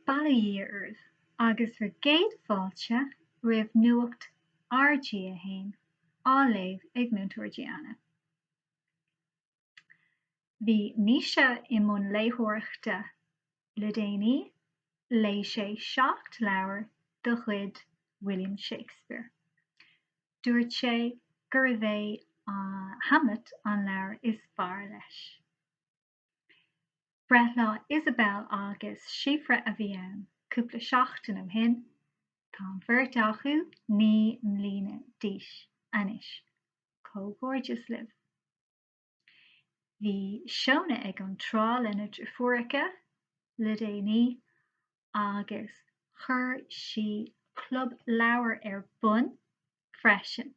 Bail ó Dhia oraibh agus bhur gcéad fáilte roimh Nuacht RG1 á léamh ag Múinteoir Diana. Bhí Naoise i mbun léitheoireachta le déanaí, léigh sé seacht leabhar de chuid William Shakespeare. Dúirt sé gurbh é Hamlet an leabhar is fearr leis. Breithlá Isabelle Agus Síofra a bhí ann cúpla seachtain ó shin. Tá an bheirt acu naoi mbliana d'aois anois. Comhghairdeas libh. Bhí Shona ag an trá lena deirfiúracha, le déanaí, agus chuir sí club leabhar ar bun freisin.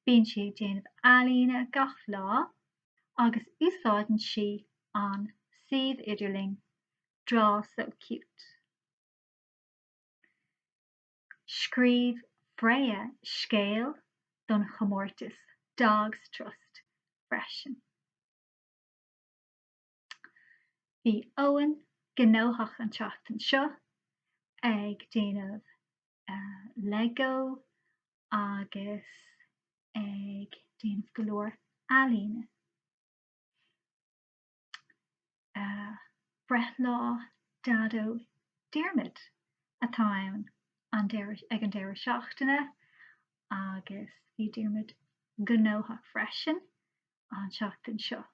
Bíonn sí ag déanamh ealaíne gach lá agus úsáideann sí an suíomh idirlín Draw So Cute. Scríobh Freya scéal don chomórtas Dogs Trust freisin. Bhí Eoin gnóthach an tseachtain seo ag déanamh Lego agus ag déanamh go leor ealaíne. Breithlá Daideo Diarmuid atá ann ag an deireadh seachtaine agus bhí Diarmuid gnóthach freisin an tseachtain seo.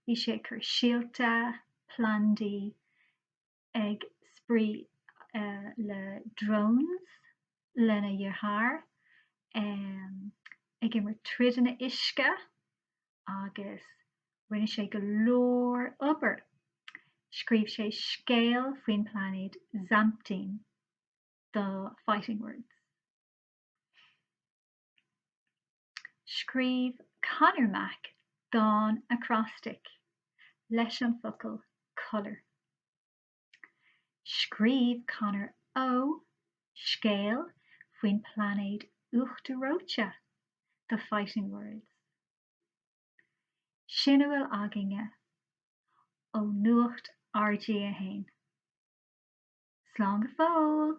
Bhí sé ag cur síolta, plandaí, ag spraoi le drones lena dheartháir, ag imirt troideanna uisce agus rinne sé go leor obair. Scríobh sé scéal faoin pláinéad Zamtine do Fighting Words. Scríobh Conor Mack dán acrostic leis an focal colour. Scríobh Conor Ó scéal faoin pláinéad uachtar reoite do Fighting Words. Sin a bhfuil againne ó Nuacht RG1. Slán go fóill!